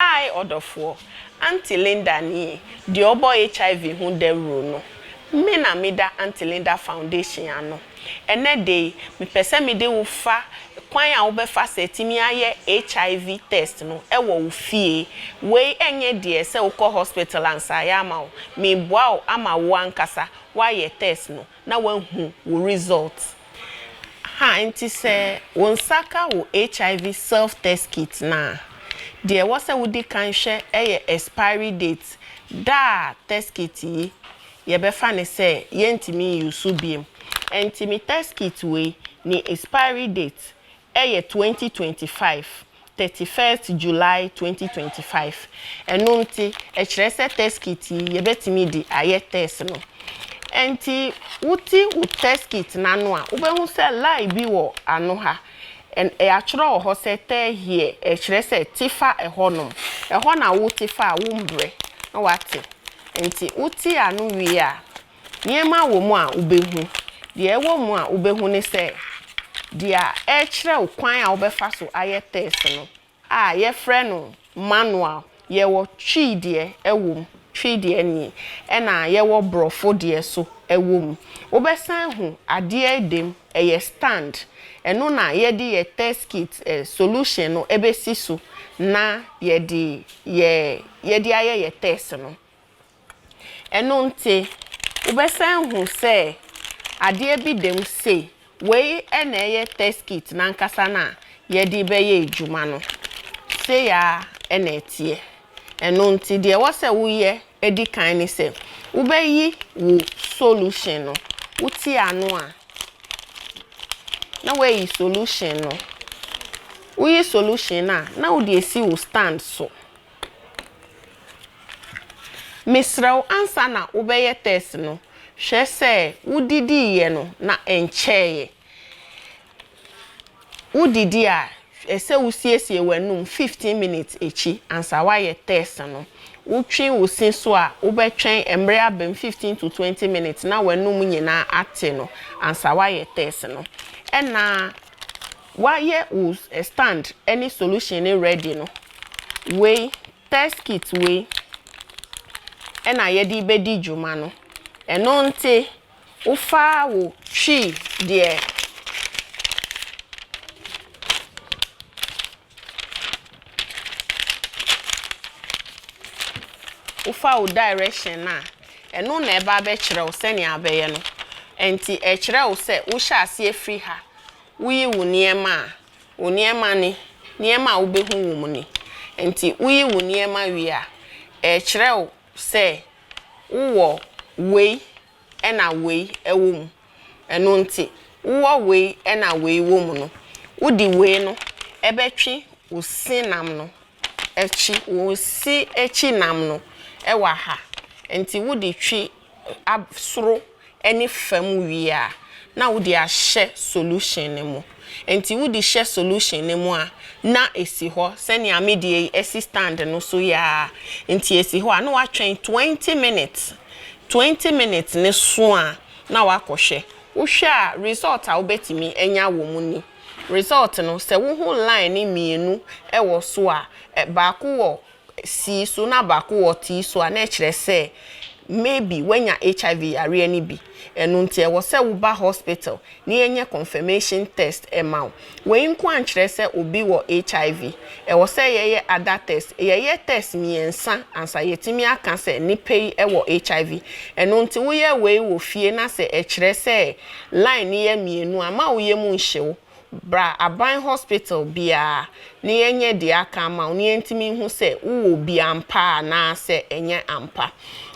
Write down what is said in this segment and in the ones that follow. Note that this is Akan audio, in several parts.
Hi ɔdɔfoɔ, Aunty Linda nie, deɛ ɔbɔ HIV ho dawuro no. Me na me da Aunty Linda Foundation ano. Ɛnɛ da yi, me pɛ sɛ me de wo fa kwan a wo bɛ fa so atumi ayɛ HIV test no wɔ wo fie. Wei ɛnyɛ deɛ sɛ wo kɔ hospital ansa ayɛ ama wo. Me boa wo ama wo ankasa wo ayɛ test no na wahu wo result ha nti sɛ wo nsa ka wo HIV self test kit no a, deɛ ɛwɔ sɛ wodi kan hwɛ yɛ expiry date, da a test kit yi yɛbɛfa no sɛ yɛntumi nyi so biom. Ɛnti me test kit wei ne expiry date Ɛyɛ twenty twenty five thirty first July twenty twenty five ɛno nti ɛkyerɛ sɛ test kit yi yɛbɛtumi de ayɛ test no ɛnti wote wo test kit no ano a wobɛhu sɛ line bi wɔ ano ha and yɛatwerɛ wɔ hɔ sɛ tɛ here ɛkyerɛ sɛ te fa ɛhɔ nom ɛhɔ na wote fa a wombrɛ na wate ɛnti wote ano wie a Nneɛma wɔ mu a wobɛhu. Deɛ ɛwɔ mu a wobɛhu ne sɛ, deɛ ɛrekyerɛ wo kwan a wobɛfa so ayɛ tɛs no a yɛfrɛ no manual, yɛwɔ Twi deɛ wɔ mu, Twi deɛ nie, ɛna yɛwɔ Borɔfo deɛ so wɔ mu. Wobɛsan ahu adeɛ da mu, ɛyɛ stand, ɛno na yɛde yɛ tɛs kit solution no bɛsi so na yɛde yɛ yɛde ayɛ yɛ tɛs no. Ɛno nti, wobɛsan hu sɛ adeɛ bi da mu sei, wei na ɛyɛ test kit no ankasa no a yɛde rebɛyɛ adwuma no. Sei ara na ɛteɛ. Ɛno nti, deɛ ɛwɔ sɛ woyɛ di kan ne sɛ, wobɛyi wo solution no, wote ano a, na woayi solution no. Woyi solution no a, na wode asi wo stand so. Mesrɛ wo ansa na wobɛyɛ tɛst no, hwɛ sɛ wodidiiɛ no na ɛnkyɛeɛ. Wodidi a, hwɛ sɛ wosiesie w'anum fifteen minutes akyi ansa woayɛ tɛst no. Wotwe wo se so a, wobɛtwɛn mmerɛ abem fifteen to twenty minutes na w'anum nyinaa ate no ansa woayɛ tɛst no. Ɛna. Wayɛ wo stand ne solution no ready no, wei test kit wei na yɛde bɛdi dwuma no. Ɛno nte wofa wo twi deɛ wofa wo direction no a, ɛno na ɛba bɛkyerɛ wo sɛnea wobɛyɛ no. Ɛnti ɛkyerɛ wo sɛ wohyɛ aseɛ firi ha, Wuyi wo nneɛma a, wo nneɛma ne, nneɛma a wubehu wom ne. Enti wuyi wo nneɛma wie a, ɛrekyerɛ wo sɛ wowɔ wei na wei wɔ mu. Ɛno nti, wowɔ wei na wei wɔ mu no, wode wei no bɛtwe wo se nam no akyi, wo se akyi nam no wɔ ha. Enti wode twe soro ne fam wie a na wode ahyɛ solution no mu. Nti wode hyɛ solution no mu a na ɛsi hɔ sɛnea me deɛ yi asi stand no so yi ara nti ɛsi hɔ a na woatwɛn twenty minutes, twenty minutes no so a na woakɔhwɛ. Wohwɛ a result a wobɛtumi anya wɔ mu ni. Result no sɛ wohu line mmienu wɔ so a, baako wɔ sii so na baako wɔ tee so a, na ɛkyerɛ sɛ maybe woanya HIV yareɛ no bi. Ɛno nti ɛwɔ sɛ woba hospital na yɛnyɛ confirmation test ma wo. Wei nko ankyerɛ sɛ obi wɔ HIV. Ɛwɔ sɛ yɛyɛ other test. Yɛyɛ test mmiɛnsa ansa yɛatumi aka sɛ nipa yi wɔ HIV. Ɛno nti woyɛ wei wɔ fie na sɛ ɛkyerɛ sɛ line no yɛ mmienu a, mma wo yam nhye wo. Bra aban hospital biara na yɛnyɛ deɛ aka ama wo na yɛntumi nhu sɛ wowɔ bi ampa anaasɛ ɛnyɛ ampa.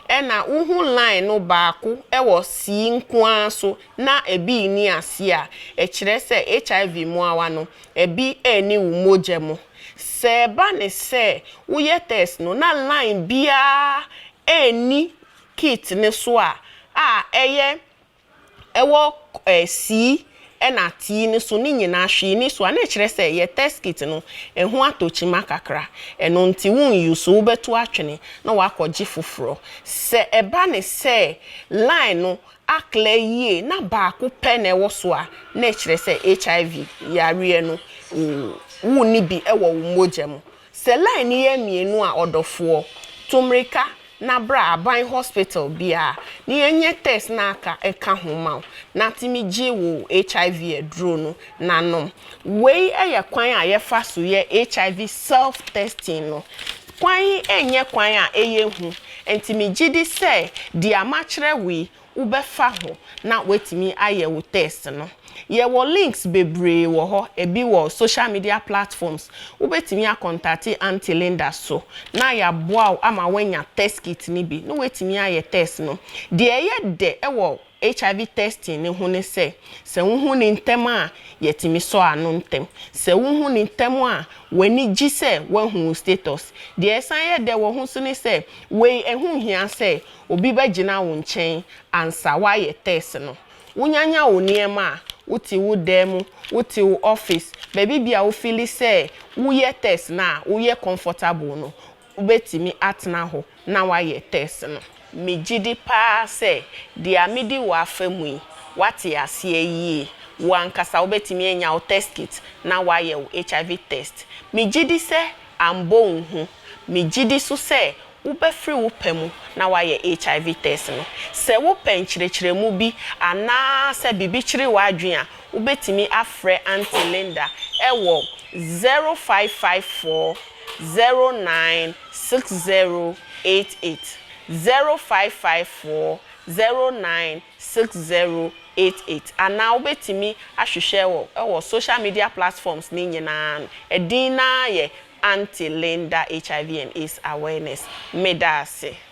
Ɛna wohu line no baako wɔ sii nko ara so na ɛbi nni aseɛ a, ɛkyerɛ sɛ HIV mmoawa no, ɛbi nni wo mogya mu. Sɛ ɛba ne sɛ woyɛ test no na line biara nni kit no so a, a ɛyɛ ɛwɔ eh, sii ɛna tii no so no nyinaa hwee ni so a, na ɛkyerɛ sɛ yɛ teskit no ɛho atɔ kyima kakra. Ɛno nti wo nyi so, wobɛto atwene na woakɔgye foforɔ. Sɛ ɛba ne sɛ line no aklɛ yie na baako pɛ na ɛwɔ so a, na ɛkyerɛ sɛ HIV yareɛ no wo, wonni bi ɛwɔ wo mogya mu. Sɛ line no yɛ mmienu a ɔdɔfoɔ, to mmirika na bra aban hospital biara na yɛnyɛ test na aka ɛka ho ma wo na tumi gye wo HIV aduro no na nom. Wei yɛ kwan a yɛfa so yɛ HIV self testing no. Kwan yi nyɛ kwan a ɛyɛ hu nti megye di sɛ deɛ makyerɛ wo yi wobɛfa ho na woatumi ayɛ wo test no. Yɛwɔ links bebree wɔ hɔ, ɛbi wɔ social media platforms, wobɛtumi akɔntate Aunty Linda so na yɛaboa wo ama woanya test kit no bi na woatumi ayɛ test no. Deɛ ɛyɛ dɛ wɔ HIV testing no ho ne sɛ, sɛ wohu no ntɛm a, yɛtumi sɔ ano ntɛm. Sɛ wohu no ntɛm a, w'ani gye sɛ woahu wo status. Deɛ ɛsan yɛ dɛ wɔ ho nso ne sɛ, wei ɛho nhia sɛ obi bɛgyina wo nkyɛn ansa woayɛ tɛs no. Wonyanyan wo nneɛma a, wote wo dan mu, wote wo ɔfis, baabi biara a wofili sɛ woyɛ tɛs no a woyɛ kɔmfɔtable no, wobɛtumi atena hɔ na woayɛ tɛs no. Megye di paa sɛ deɛ medi wo afa mu yi, woate aseɛ yie. Wo ankasa wobɛtumi anya wo tɛst kit na woayɛ wo HIV tɛst. Megye di sɛ ambɔ wo hu. Megye di nso sɛ Wobɛfiri wo pɛ mu na woayɛ HIV tɛst no. Sɛ wopɛ nkyerɛkyerɛmu bi anaa sɛ biribi kyere w'adwene a, wobɛtumi afrɛ Auntie Linda wɔ zero five five four zero nine six zero eight eight, zero five five four zero nine six zero eight eight, anaa wobɛtumi ahwehwɛ wɔ wɔ social media platforms no nyinaa no, ɛdin no ara yɛ Aunty Linda HIV and AIDS Awareness, Meda ase.